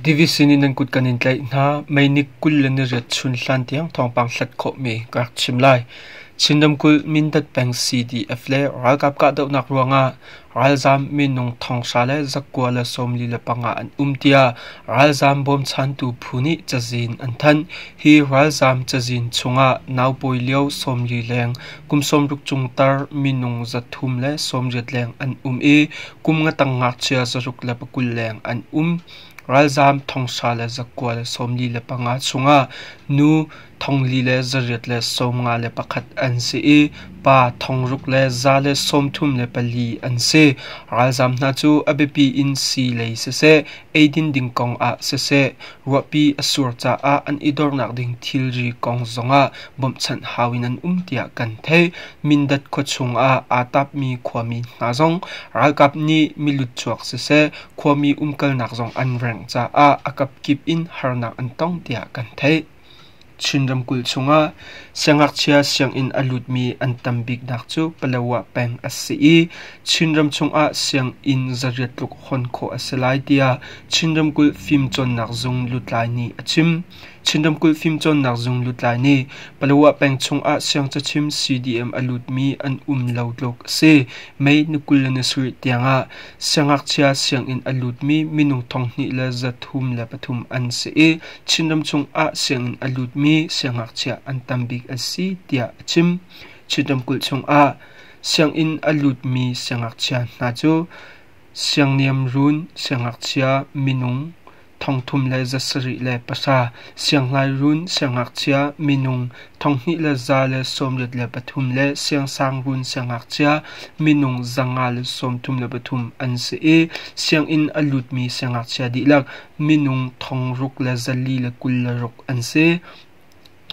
Division in an kut kan in tlaih hna. Meinik kul le ni riat chun hlan tiang thawngpang hlat khawhmi ka rak chim lai. Chin ramkulh Mindat peng CDF le ralkap kahdohnak ruangah Ralzaam minung thongsa le zakua le sawmli le panga an um tiah ralzaam bawmchantu phu nih cazin an thanh. Hi ralzaam cazin chungah naupawi lio sawmli leng, kum sawmruk chung tar minung zathum le sawmriat leng an um i kum ngatang ngakchia zaruk le pakul leng an um. Ralzaam thongsa le zakua le sawmli le panga chungah nu thong li le zariat le sawmnga le pakhat an si i pa thong ruk le za le sawmthum le pali an si. Ralzaam hna cu a biapi in sii lei siseh, eidin ding kong ah siseh, ruahpi a sur caah an i dornak ding thilri kong zongah bawmhchanh hau in an um tiah kan theih. Mindat khuachung ah aa tapmi khuami hna zong ralkap nih mi lutchuak siseh, khuami umkalnak zong an rengh caah a kapkip in harnak an tong tiah kan theih. Chin ramkulh chungah siangngakchia sianginn a lutmi an tam biknak cu Palawa peng a si i Chinram chungah sianginn zariat tluk hawn khawh a si lai tiah Chin ramkulh fimcawnnak zung lutlai nih a chim. Chin ramkulh fimcawnnak zung lutlai nih Palawa peng chungah siangcachim CDM a lutmi an um lo tluk a si. May ni kul le ni sarih tiangah siangngakchia sianginn a lutmi minung thonghnih le zathum le pathum an si i Chinram chungah sianginn a lutmi siangngakchia an tam bik an si tiah a chim. Chin ramkulh chungah sianginn a lutmi siangngakchia hna cu siangniam run, siangngakchia, minung, thongthum le za sarih le pahra, sianghlai run, siangngakchia, minung thonghnih le za le sawmriat le pathum le siangsang run, siangngakchia, minung za nga le sawmthum le pathum an si i sianginn a lutmi siangngakchia dihlak minung thong ruk le zali le kul le ruk an si.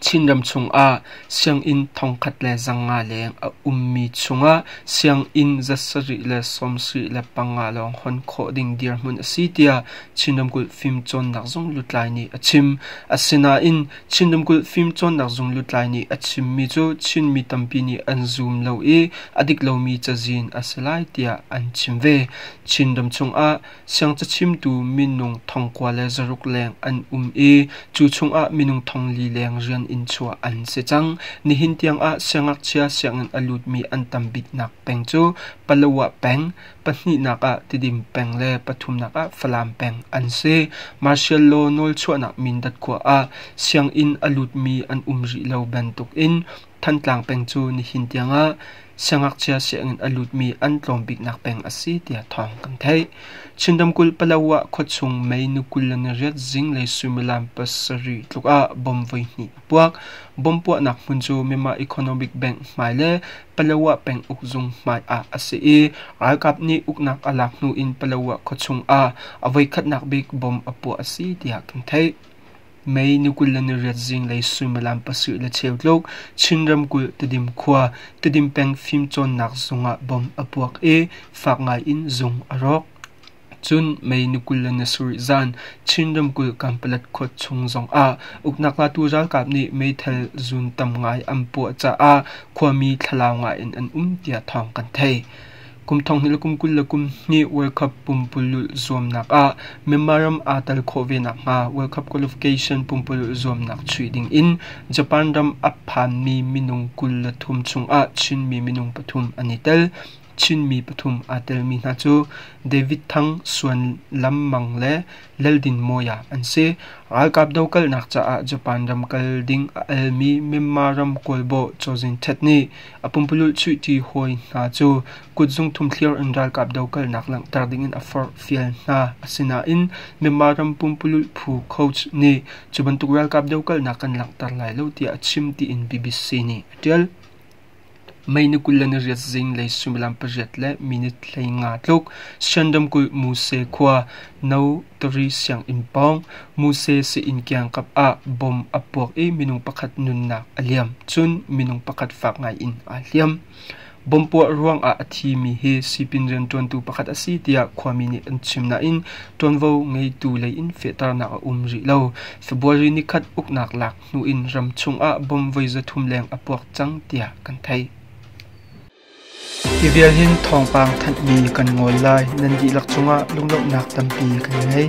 Chinram chungah sianginn thongkhat le zanga leng a ummi chungah sianginn zasarih le sawmsarih le panga lawng hon khawh ding dirhmun a si tiah Chin Ramkulh Fimcawnnak Zung lutlai nih a chim. Asinain Chin Ramkulh Fimcawnnak Zung lutlai nih a chimmi cu Chinmi tampi nih an zum lo i a dik lomi cazin a si lai tiah an chim ve. Chin ram chungah Siangcachimtu minung thongkua le zaruk leng an um i cu chungah minung thong li leng rian in chuah an si cang. Nihin tiangah siangakchia sianginn a lutmi an tam biknak peng cu Palawa peng, pahnihnak ah Tidim peng le pathumnak ah Falam peng an si. Martial law nawlchuahnak Mindat khua ah sianginn a lutmi an um rih lo bantukin Thantlang peng cu nihin tiangah siangngakchia sianginn a lutmi an tlawmbiknak peng a si tiah thawng kan theih. Chin ramkulh Palawa khuachung mei nu kul le nariat zinglei suimilam pasarih tluk ah bomb voihnih a puak. Bomb puahnak hmun cu Myanmar Economic Bank hmai le Palawa peng uk zung hmai ah a si i ralkap nih uknak a lak hnu in Palawa khuachung ah a voikhatnak bik bomb a puah a si tiah kan theih. Mei na kul le na riat zinglei suimilam pasarih le cheu tluk Chin ramkulh Tedim khua Tedim peng fimcawnnak zung ah bom a puak i fak ngaiin zung a rawk. Cun mei na kul le na sarih zan Chin ramkulh Kanpalat khua chung zong ah uknak latu ralkap nih meithal zun tam ngai an puah caah khuami thlalau ngaiin an um tiah thawng kan theih. Kum thonghnih le kum kul le kum hnih World Cup pumpululh zuamnak ah Myanmar ram aa tel khawh ve nakhnga World Cup qualification pumpululh zuamnak chuih ding in Japan ram a phanmi minung kul le thum chungah Chinmi minung pathum an i tel. Chinmi pathum aa telmi hna cu David Thang, Suan Lam Mang le Lal Din Mawya an si. Ralkap dokalnak caah Japan ram kal ding a almi Myanmar ram kawlbawi Zaw Zin Htet nih A pumpululh chuihṭi hawi hna cu kutzung thumthliar in ralkap dokalnak langhter dingin a forh fial hna. Asinain Myanmar ram pumpululh phu Coats nih cu bantuk ralkap dokalnak kan langhter lai lo tiah a chim tiin BBC nih a ṭial. Mei ni kul le ni riat zinglei suimilam pariat le minit hleinga tluk Shan ramkulh Muse khua No Tari sianginn pawng Muse Sein kiangkap ah bom a puak i minung pakhat nunnak a liam, cun minung pakhat fak ngaiin aa hliam. Bom puah ruangah a thimi hi sipin rianṭuantu pakhat a si tiah khuami nih an chim nain ṭuanvo ngeitu lei in fehternak a um rih lo. February ni khat uknak lak hnu in ram chungah bom voi zathum leng a puak cang tiah kan theih. Hi vial hin thawngpang thanhmi kan ngawl lai nan dihlak cungah lunglawmhnak tampi kan ngei.